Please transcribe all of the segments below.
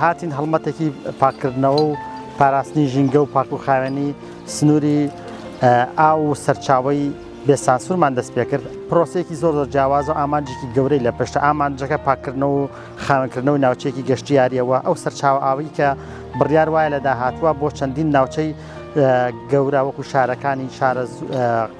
هاتین هەڵمەتێکی پاککردنەوە و پاراستنی ژینگە و پاک و خاوێنی سنووری ئاو و سەرچاوی بێ سانسورمان دەست پێکرد پرۆسێکی زۆر زۆر جیاواز و ئامانجێکی گەورەی لە پشتە ئامانجەکە پاککردنەوە و خاوێنکردنەوەی ناوچێکی گەشتیاریەوە ئەو سەرچاوە ئاوی کە بڕیار وایە لە داهاتوە بۆ چەندین ناوچەی گەورە وەکو شارەکانی شارە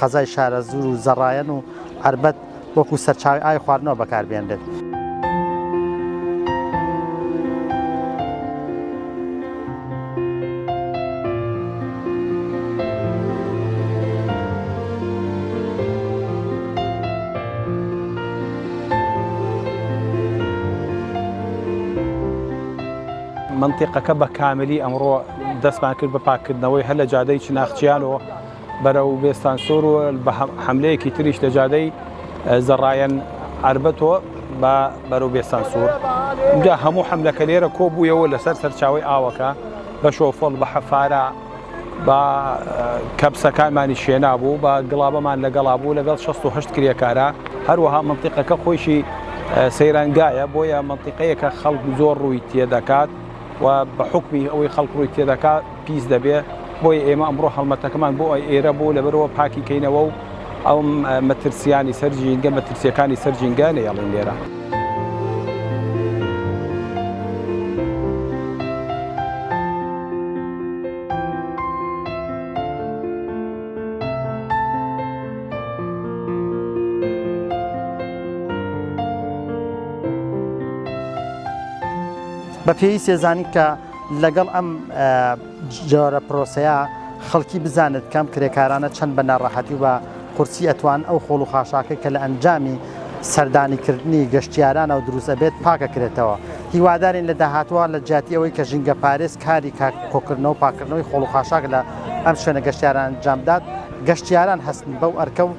قەزای شارە زور و زەڕایەن و عربەت وەکو سەرچاوەی ئاوی خواردنەوە بەکاربهێنرێت. مەنتیقەکە بە کاملی ئەمڕۆ دەستمان کرد بە پاککردنەوەی هەر لە جادەی چناخچیانەوە، بەرەو بێستانسوور و بە حەملەیەکی تریش لە جادەی زەڕایەن عەربەتۆ بە بەرەو بێستانسوور جا هەموو حەملەکە لێرە کۆ بوویەوە لەسەر سەرچاوی ئاوەکە بە شۆفڵ بە حەفارە بە کەپسەکانمانی شێنا بوو بە گڵابەمان لەگەڵا بوو لەگەڵ 16 کرێکارە هەروەها منتیقەکە خۆشی سەیرانگایە بۆیە منتیقەیەکە خەڵک زۆر ڕووی تێدەکات و بە حوکمی ئەوەی خەڵک ڕووی تێدەکا پیس دەبێ بۆی ئێمە ئەمڕۆ هەڵمەتەکەمان بۆ ئەی ئێرە بوو لەبەرەوە پاکی کەینەوە و ئەو مەترسیانی سەر ژینگە مەترسیەکانی سەر ژینگە نەیەڵین لێرە. بە پێویستە زانیت کە لەگەڵ ئەم جۆرە پرۆسەیە خەڵکی بزانێت کەم کرێکارانە چەند بە ناڕەحەتی و بە قورسی ئەتوان ئەو خۆڵ و خاشاکەی کە لە ئەنجامی سەردانی کردنی گەشتیارانەوە دروست ئەبێت پاکە کرێتەوە هیوادارین لە داهاتوە لە جیاتی ئەوەی کە ژینگە پارێز کاری کۆکردنەوە پاکردنەوەی خۆڵ و خاشاک لە ئەم شوێنە گەشتیاران ئەنجام بدات گەشتیاران هەستن بەو ئەرکە و